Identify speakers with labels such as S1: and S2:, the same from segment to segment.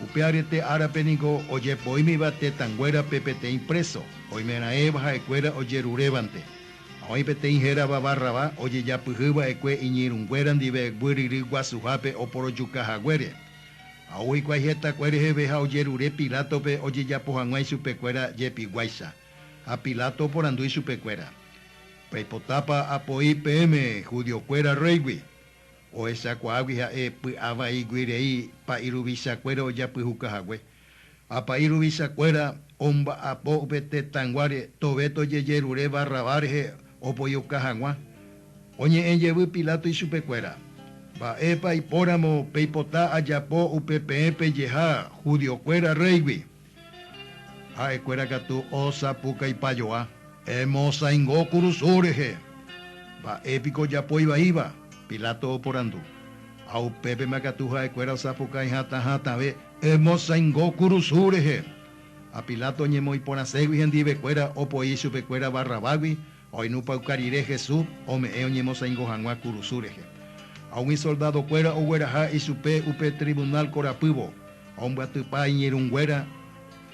S1: Upe aryete árape niko ojepoímiva tetãnguérape peteĩ préso, oimeraẽva ha'ekuéra ojerurévante. Ha oĩ peteĩ hérava Barrabá ojejapyhy va'ekue iñirũnguéra ndive guyrýry guasuhápe oporojuka haguére. Ha ou hikuái hetakue reheve ha ojerure Pilátope ojejapo hag̃ua ichupekuéra jepiguáicha. Ha Pilato oporandu ichupekuéra, Peipotápa apo'i peẽme judiokuéra rréigui? Ohechakuaágui ha'e py'avaígui rei pa'i ruvichakuéra ojapyhuka hague. Ha pa'i ruvichakuéra omba'apo upe tetãnguáre tove tojejerure Barrabás rehe opojoka haguã. Oñe'ẽ jevy Pilato ichupekuéra, Mba'épa ipóramo peipota ajapo upe peẽ pejeha judiokuéra réigui? Ha'ekuéra katu osapukaipajoa. Emosãingo kurusu rehe. Mba'e piko ojapo ivaíva? Pilato oporandu. Ha upépema katu ha'ekuéra osapukái hatã hatãve emosãingo kurusu rehe. Ha Pilato oñemoĩporãségui hendivekuéra opoi chupekuéra Barrabágui Oinupãuka rire Jesús ome'ẽ oñemosãingo hag̃ua kurusu rehe, ha umi soldadokuéra ogueraha ichupe upe trivunál korapývo, ombyatypa iñirũnguéra,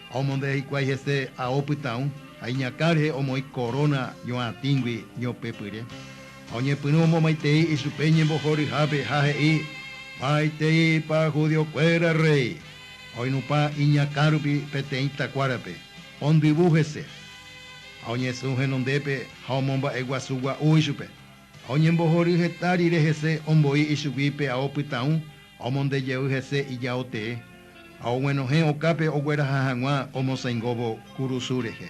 S1: ha omondea hikuái hese ao pytãũ, ha iñakã rehe omoĩ koróna ñoatĩgui ñopepyre, ha oñepyrũ omomaitei ichupe ñembohoryhápe ha he'i, Maiteipa judiokuéra rréi! Oinupã iñakãrupi peteĩ takuárape, ondyvu hese, ha oñesũ henondépe ha omomba'eguasu gua'u ichupe, ha oñembohory heta rire hese omboi ichugui pe ao pytãũ ha omonde jey hese ijao tee, ha oguenohẽ okápe ogueraha hag̃ua omosãingóvo kurusu rehe.